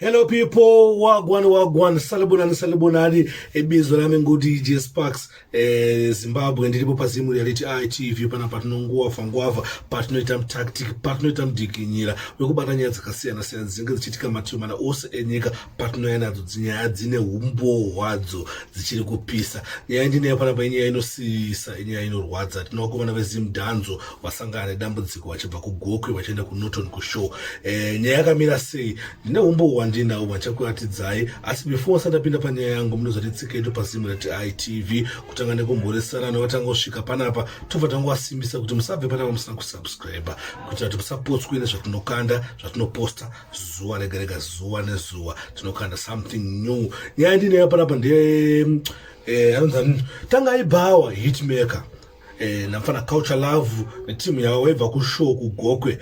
Hello people, wagwan wagwan, salibonani salibonani, ibizo rami ngoti J Sparks, eh, Zimbabwe ndiripo pazimu reality eye TV pana patinonguwa fangwava, patinoita tactic, patinoita mdikinyira, wekubata nyaya dzakasiyana siyana dzinenge dzichitika mativi mana ose enyika patinoya nadzo dzinyaya dzine humbowo hwadzo dzichiri kupisa. Nyaya ndinayo pana painyaya inosiyisa, inyaya inorwadza. Tinovakomana veZim Danzo vasangana nedambudziko vachibva kugokwe vachienda kunorton kushow e, nyaya yakamira sei ndine umbo hwandinawo vachakuratidzai asi before asati apinda panyaya yangu munozoti tsiketu pazimu reitv kutanga nekumhoresana nevatanga kusvika panapa tobva tangowasimbisa kuti musabve panapa musina kusubscribe kuitira kuti musapotswe nezvatinokanda zvatinoposta zuva rega rega zuva nezuva tinokanda something new nyaya ndineyo panapa ndeye eh, anonzi tangai bhawa hitmaker eh, namfana culture love netimu yavo vaibva kushow kugokwe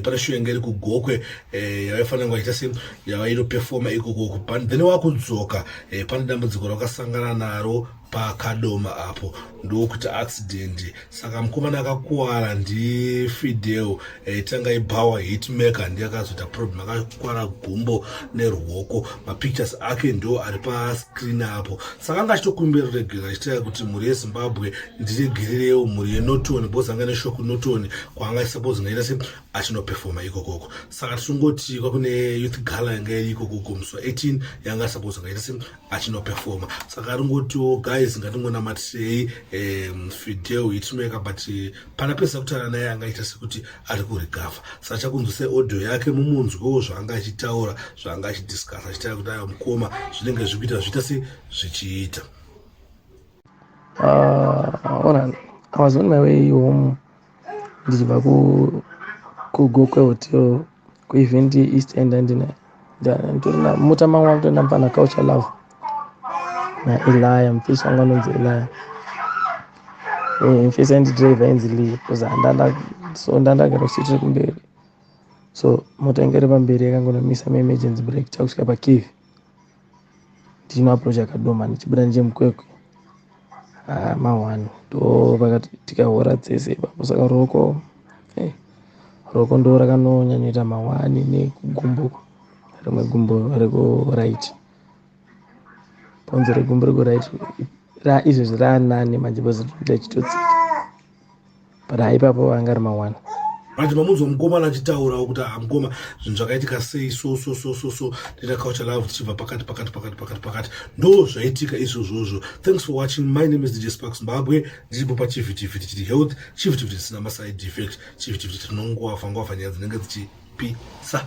pane show yanga iri kugokwe eh, yavaifanira kunge vachiita se yavainopefoma ikoko kupani then wakudzoka eh, pane dambudziko rakasangana naro pakadoma apo ndokuti accident saka mukomana akakuwara ndifideo Eh, tanga ibhawa hitmaker ndiye akazoita problem akakwara gumbo nerwoko mapictures ake ndo ari pascreen apo saka anga achitokumbira ruregerero achitaura kuti mhuri yezimbabwe ndiregererewo mhuri yenoton because anga neshoko noton kwaanga suppose ngaita se achinoperfoma ikokoko saka tichingoti kwakune youth gala yanga iri ikokoko musi wa 18 yanga suppose ngaita se achinopefoma saka ringotiwo guys ngatingonamatisei um, fideo itinoweka but eh, pana pesa kutaura naye anga aita sekuti ari kurigavha saka chakunzwisai audio yake mumunzwewo zvaanga achitaura zvaanga achidiscasa achitaura kuti ayo mukoma zvinenge zvikuita zviita se zvichiita uh, ah, ona i was on my way home ndichibva kugokwe hotel kuevent east end andina nditorina mota mangu akutoenda mupana culture love naeliya mufesi wangu anonzi eliya mufesi eh, andidrive ainzi lee bcause andanda so ndandagara kusiti rekumberi so mota inge iri pamberi yakangonomisa maemergency break takusvika pakivi ndichino approach akadoma ndichibuda nechemukwekwe ah, mahwani ndopakatika hora dzese ipapo saka ruoko hey, eh, ruoko ndo rakanonyanyoita mahwani nekugumbo rimwe gumbo rekuright bhonzo regumbo rekuright izvezvi raanani manje bhozitoita chitotsika but haipapo vanga ari mawana manje mamunzwa mukomana achitaurawo kuti aha mukoma zvinhu zvakaitika sei so so so so so ndina culture love tichibva pakati pakati pakati pakati pakati ndo zvaitika izvozvozvo thanks for watching my name is dj spark zimbabwe ndiripo pachivhitivhiti chiri health chivhitivhiti chisina maside effect chivhitivhiti tinongowafa ngowafa nyaya dzinenge dzichipisa